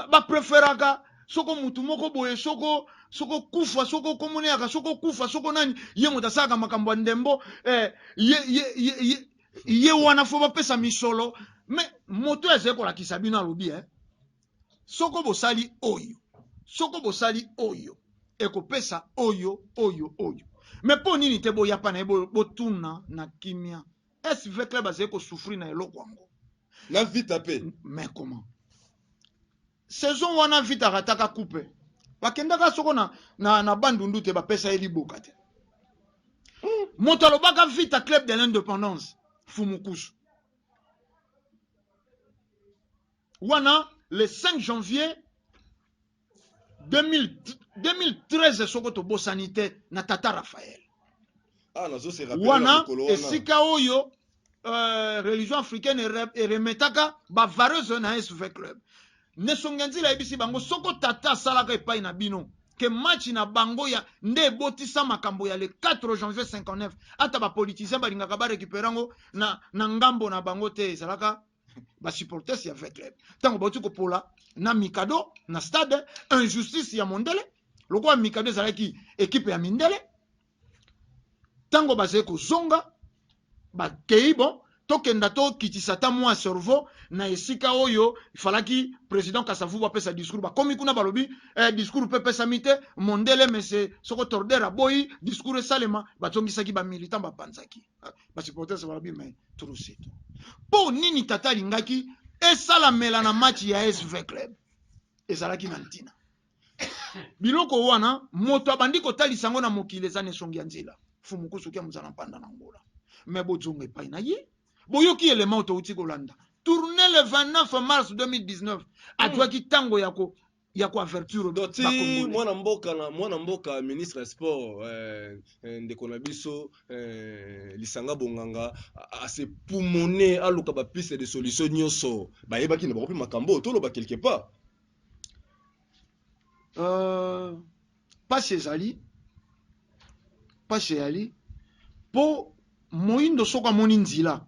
bapreferaka ba, ba, ba soko mutu moko boye soko soko kufa soko komona yaka soko kufa soko nani ye moto asalaka makambo ya ndembo eh, ye, ye, ye, ye, ye wana fo bapesa misolo me moto azali kolakisa bino alobi eh, soko bosali oyo soko bosali oyo ekopesa oyo oyo oyo me mpo nini te boyapa na ye botuna na kimia SV Club azali ko souffrir na eloko yango. Na Vita pe. Mais comment? Saison wana Vita rataka coupe. Bakendaka soko na na, na Bandundu te bapesa ye liboka te. Hmm. Moto alobaka Vita Club de l'Independance Fumukusu. Wana le 5 janvier 2013 soko tobosani te na tata Raphaël ah, wana esika oyo euh, religion africaine eremetaka bavareuse na SV club nesonge nzila ayebisi bango soko tata asalaka epai na bino ke match na bango ya nde ebotisa makambo ya le 4 janvier 59 ata bapolitisien balingaka barekipere yango na, na ngambo na bango te ezalaka ba supporters ya vrai club ntango bauti kopola na mikado na stade injustice ya mondele lokola mikado ezalaki ekipe ya mindele ntango bazali kozonga bakei bon tokenda tokitisa ata mwa cerveau na esika oyo ifalaki président kasavubu apesa discours bakomi kuna balobi eh, discours mpe epesami te mondele mese soko torder aboyi discours esalema bazongisaki bamilitant bapanzaki ba supporters balobi mais trop c'est trop mpo nini tata alingaki esalamela na match ya SV Club ezalaki na ntina biloko wana moto abandi kotalisa yango na mokili eza na esongi ya nzela fumukusuki ya mozala mpanda na ngola me bozonga epai na ye boyoki elema oyo touti kolanda tourne le 29 mars 2019 azwaki ntango ya ko ya ko avertir ba congolais mwana mboka na mwana mboka ministre ya sport euh, euh, ndeko na biso euh, lisanga bonganga a se poumoner aluka ba piste de solution nyoso bayebaki na bakopi makambo toloba quelque part euh, Pasi ezali pasi eyali po moyindo soko amoni nzila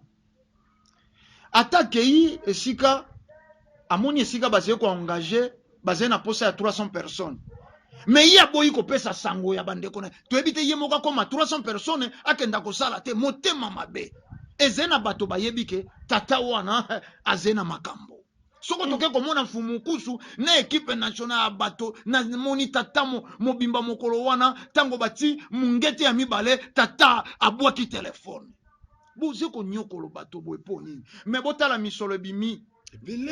ata akeyi esika amoni esika bazali ko engage bazali na posa ya 300 personnes mais ye aboyi kopesa sango ya bandeko na toyebi te ye moko akoma 300 personnes akenda kosala te motema mabe ezali na bato bayebi ke tata wana azali na makambo soko mm. toke komona mfumu nkusu na ekipe national ya bato na moni tata mobimba mokolo wana ntango bati mungete ya mibale tata abwaki telefone boze konyokolo bato boye mpo nini me botala misolo ebimi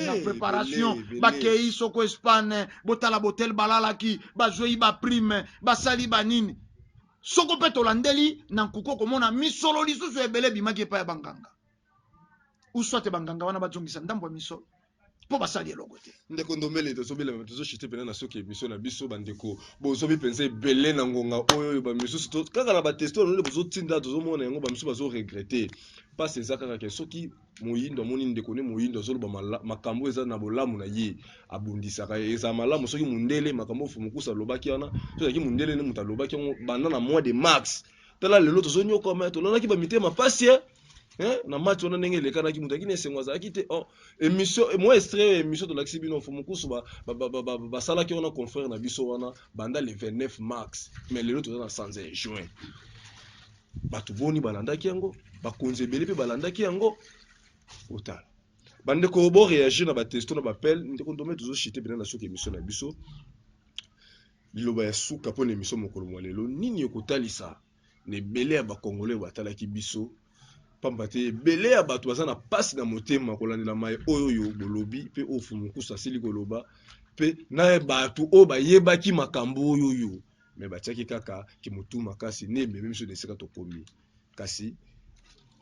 na préparation bakei soko espagne botala botel balalaki bazwei baprime basali banini soko mpe tolandeli na nkuku okomona misolo lisusu ebele ebimaki epai ya banganga ou soit banganga wana bazongisa ndambo ya misolo mpo basali eloko te ndeko ndombele tozobelema tozoshite mpena na soki emission na biso bandeko bozobi mpenza ebele na ngonga oyo oyo bamisusu kaka na bateste oyo nde bozotinda tozomona yango bamisusu bazoregrete mpasi eza kaka ke soki moyindo amoni ndeko ne moyindo azoloba makambo eza na bolamu na ye abundisaka ye eza malamu soki mondele makambo oyo mokusa alobaki wana soki azalaki mondele nde moto alobaki yango banda na mois de mars tala lelo tozonyokwama tolalaki bamitema mpasi eh? eh, na mati wana ndenge elekanaki moto akini esengo azalaki te oh, émission eh, moi extrait ya émission tolakisi bino fo mokusu basalaki wana confrère na biso wana banda le 29 mars mais lelo toza na 101 juin bato boni balandaki yango bakonzi ebele mpe balandaki yango otala bandeko boreagir na batesto na bapele ndeko ndome tozoshite mpena na soki émission na biso Liloba ya suka mpo na emission mokolo mwa lelo, nini okotalisa na ebele ya ba congolais batalaki biso pamba te ebele ya bato baza na pasi na motema kolandela maye oyo oyo bolobi mpe oyo fumukusu asili koloba mpe na bato oyo bayebaki makambo oyo oyo me batiaki kaka kimutu makasi nde ememi biso na esika tokomi kasi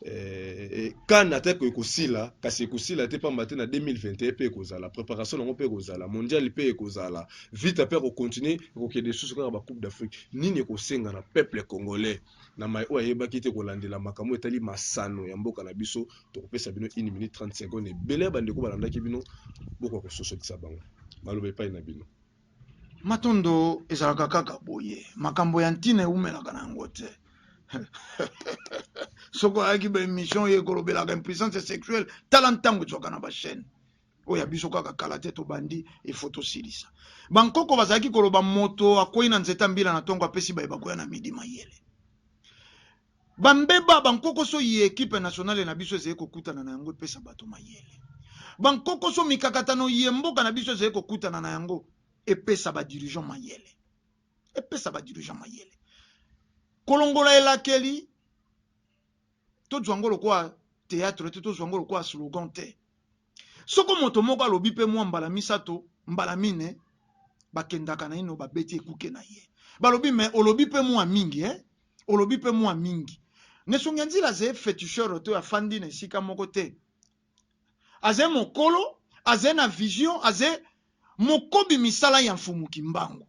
eh, eh, kan ata ekoki kosila kasi ekosila te mpamba te na 2021 mpe ekozala préparation yango mpe ekozala mondial mpe ekozala vita mpe ekokontinue ekokende lisusu kaka bacoupe d'afrique nini ekosenga na peuple congolais na mai oyo ayebaki te kolandela makambo etali masano ya mboka na biso tokopesa bino 1 minute 30 seconde ebele ya bandeko balandaki bino bokoka kososolisa bango maloba epai na bino Matondo ezalaka kaka boye, makambo ya ntina ewumelaka na yango te. Soko ayaki ba emission ye kolobelaka impuissance sexuelle, tala ntango ezwaka na ba chaîne oyo ya biso kaka kala te tobandi efo tosilisa. Bankoko bazalaki koloba moto akwei na nzete ya mbila na ntongo apesi baye bakoya na midi mayele. Ba mbeba, ba nkokoso iye equipe nationale na biso ezali kokutana na yango epesa bato mayele. Ba nkokoso, mikakatano iye mboka na biso ezali kokutana na yango epesa ba dirigeants mayele. Epesa ba dirigeants mayele. Kolongola elakeli, tozwa yango lokola theatre te, tozwa yango lokola slogan te. soko moto moko alobi mpe mwa mbala misato mbala mine bakendaka naino babeti ekuke na ye balobi me olobi mpe mwa mingi eh? olobi mpe mwa mingi nesongi ya nzila aze feticheur to afandi na esika moko te aze mokolo aze na vision aze mokobi misala ya mfumu kimbangu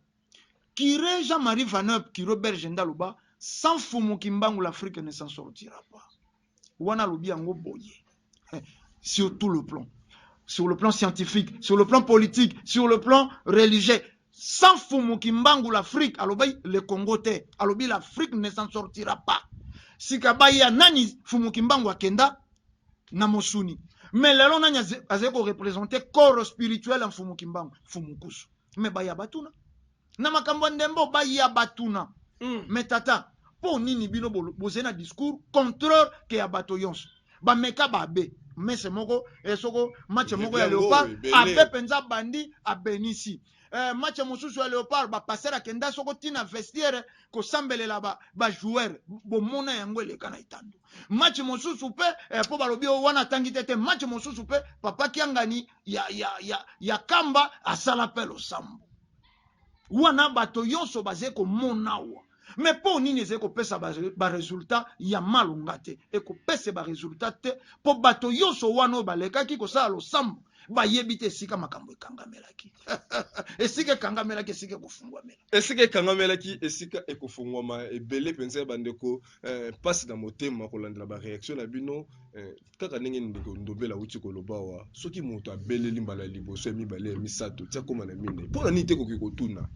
Curé Jean-Marie Vaneup Curé Berge nde aloba sans Fumu Kimbangu l'Afrique ne s'en sortira pas. Wana alobi yango boye sur tout le plan sur le plan scientifique, sur le plan politique, sur le plan religieux. Sans Fumu Kimbangu l'Afrique alobi le Congo te, alobi l'Afrique ne s'en sortira pas. Sika baya nani Fumu Kimbangu akenda na Mosuni. Mais lelo nani azali ko représenter corps spirituel ya Fumu Kimbangu, Fumu Kusu. me baya batuna na makambo ya ndembo baya batuna mm. me tata mpo nini bino bozali na discours contreur ke ya bato yonso bameka babe mese moko eh, soko match moko ya leopard abe mpenza bandi abenisi eh, match mosusu ya leopard bapasere akenda soko ntina vestiaire kosambelela bajoueur ba bomona yango eleka na etando match mosusu mpe eh, mpo eh, balobi oyo wana atangi te te match mosusu mpe papa kiangani ya, ya, ya, ya kamba asala mpe losambo wana bato yonso bazali komona awa me mpo nini ezali kopesa baresultat ba ya malonga te ekopesa baresultat te mpo bato yonso wana oyo balekaki kosala losambo bayebi te esika makambo ekangamelaki esika ekangamelaki esika ekofungwamela esika ekangamelaki esika ekofungwama ebele mpenza ya bandeko eh, mpasi eh, na motema kolandela bareaktio na bino eh, Kaka ndenge ndeko Ndobele awuti koloba awa, soki moto abeleli mbala ya liboso, ya mibale, ya misato, ti akoma na minei, mpo na nini te koki kotuna?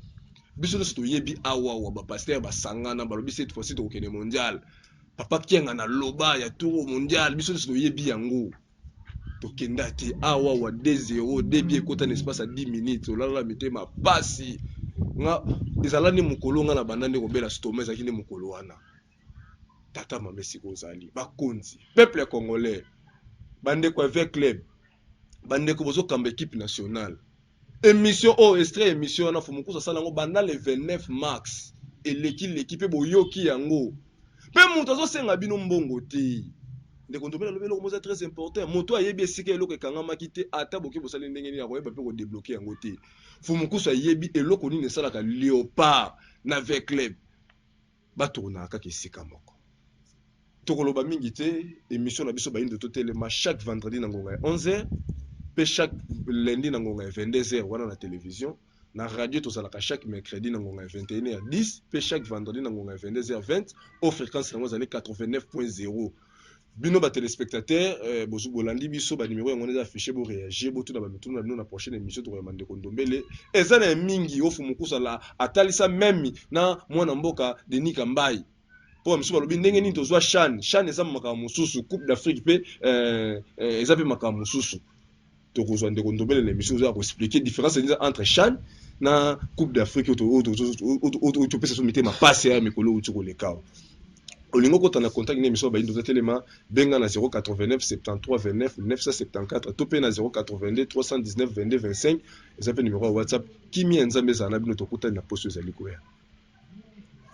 Biso nionso toyebi awa, awa ba pasteurs basangana, balobi cette fois-ci tokokende mondial, papa Kiangani aloba ya toro mondial, biso nionso toyebi yango. Tokenda te, awa, awa 2-0, 2 buts ekota na espace ya 10 minutes, olalala mitema pasi. Nga, ezala nde mokolo nga nabanda nde kobela stoma, ezalaki nde mokolo wana. tata mama esika ozali bakonzi peuple congolais bandeko ya ve club bandeko bozokamba ekipe nationale emission oyo oh, estre emission wana fomokusu asala yango banda le 29 mars eleki leki mpe boyoki yango mpe moto azosenga bino mbongo te ndeko ndombe nalobi eloko moza très important moto ayebi esika eloko ekangamaki te ata boke bosali ndenge nini akoyeba mpe kodebloke yango te fomokusu ayebi eloko nini esalaka leopard na ve club Ba tournaka kaka esika moko. Toko loba mingi te, emission na biso bayindo to telema chaque vendredi na ngonga ya 11h pe chaque lundi na ngonga ya 22h wana na television. Na radio tozalaka chaque mercredi na ngonga ya 21h10 pe chaque vendredi na ngonga ya 22h20 oyo frequence yango ezali 89.0. Bino ba telespectateurs eh, bozu bolandi biso ba numero yango eza affiche bo reagir bo tuna ba mituna na bino na prochaine emission toko ya mandeko ndombele eza na mingi ofu mukusa la atalisa meme na mwana mboka Denis Kambayi po ba misusu balobi ndenge nini tozwa chan chan eza makambo mosusu coupe d'Afrique pe eh, eh, eza pe makambo mosusu tokozwa ndeko ndombele na émission oza ko expliquer différence eza entre chan na coupe d'afrique oyo topesa so mitema pasi ya mikolo outi koleka awa olingi okota na contact na émission bayindo otelema benga na 089 73 29 974 to mpe na 082 319 22 25 eza mpe numero ya whatsapp kimia ya nzambe ezala na bino tokutani na poso ezali koya